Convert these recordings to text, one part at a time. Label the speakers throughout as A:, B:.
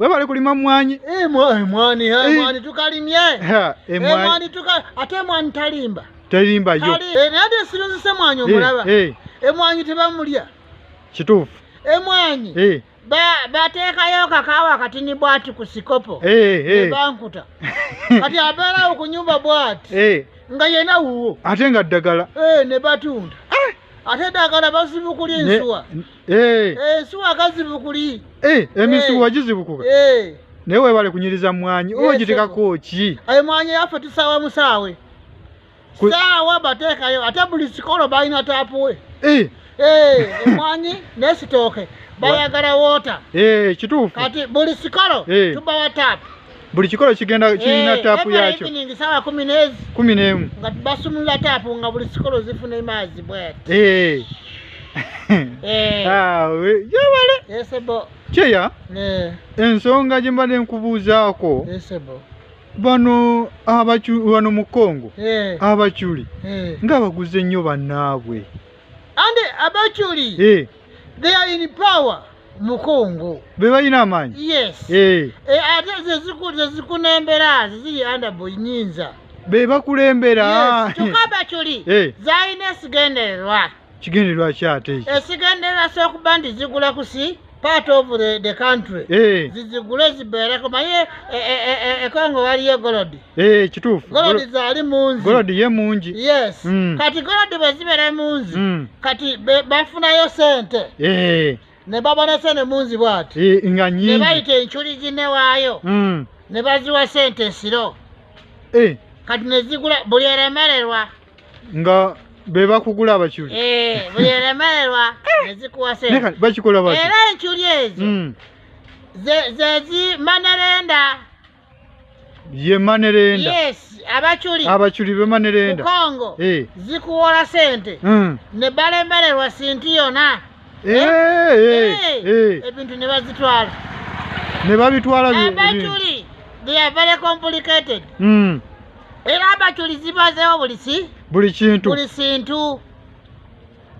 A: webale kulima mmwanyi eh, eh, mwani eh,
B: tukalimye emwani tuka ate emwani talimba talimba yo
A: naye ate sirunzise
B: mwanyi omulaba emwanyi tebamulya kituufu
A: emwanyi
B: bateekayo kakaawa kati ni bwati ku sikopo nebankuta kati abeerawo ku nyumba bwati nga yena wuwo ate nga ddagala
A: ne batunda
B: ate ddagala bazibukulya ensuwa Eh. Eh, suwa kazibukuli eh, emisuwa eh.
A: gizibukuka eh. naye webale kunyiriza mwanyi yes, ogitekako ki aye mwanyi yaffe tusaawa
B: musaawe saawa bateekayo ate buli sikolo balina taapuwe eh. eh, emwanyi nesitooke bayagala wota eh, kituufu kati
A: buli sikolo
B: eh. tubawa taapu buli kikolo kigenda
A: eh, kirina taapu yakyo sawa kumi nezi
B: kumi nemu nga
A: basumula
B: taapu nga buli kikolo zifuna emaazi bwati eh. eh.
A: ah, yewale
B: kyeya
A: ensonga gye mbadde nkubuuzaako
B: bano
A: abaculi bano mu kongo abaculi ng'abaguze nnyo bannaabwe and
B: abaculi eh. they are in power mukungu bebalina amaanyi
A: yes eh.
B: Eh, ate zezikunembera zeziri andabo nyinza bebakulembera
A: kyokka
B: baculi zalina esigendererwa kigendererwa
A: kyate esigendererwa sokuba
B: nti zigula kusi part of the, the country eh. zizigule zibeereko maye eh, eh, ekongo waliyo golodi kituufu golodi
A: zaali
B: munzi golodi ye mungi
A: yes mm. kati
B: golodi bwe zibeera munzi mm. kati bafunayo sente ne babona sente munzi bwati nga nyingi ne bayita
A: enchuli
B: zinewaayo mm. ne baziwa sente esiro kati ne zigula buli eremererwa nga
A: bebakugula abaculi eh, buli eremererwa
B: nezikuwa sente bakikola bati era
A: enculi ezo hmm.
B: zezi manerenda
A: ye manerenda yes abaculi
B: abaculi be manerenda
A: kongo eh.
B: zikuwola sente hmm. ne balemererwa sinti yona eh, ebintu ne bazitwala ne
A: babitwala abaculi
B: they are very complicated mm. era abajulizi bazeewo buli ki buli kintu buli kintu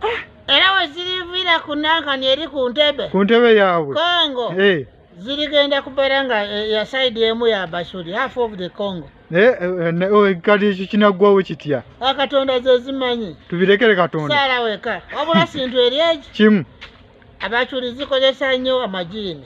B: ah. era weziriviira ku nankani eri ku ntebe ku ntebe yaabwe
A: congo eh.
B: zirigenda kubeera nga eh, ya saidi emu ya bashuri half of the congo eh, oh,
A: kati ekyo kinaggwawo kitya akatonda ah,
B: zezimanyi tubirekere katonda
A: saala weka wabula
B: sintu eri eki kimu
A: abacuri
B: zikozesa nnyo amajiini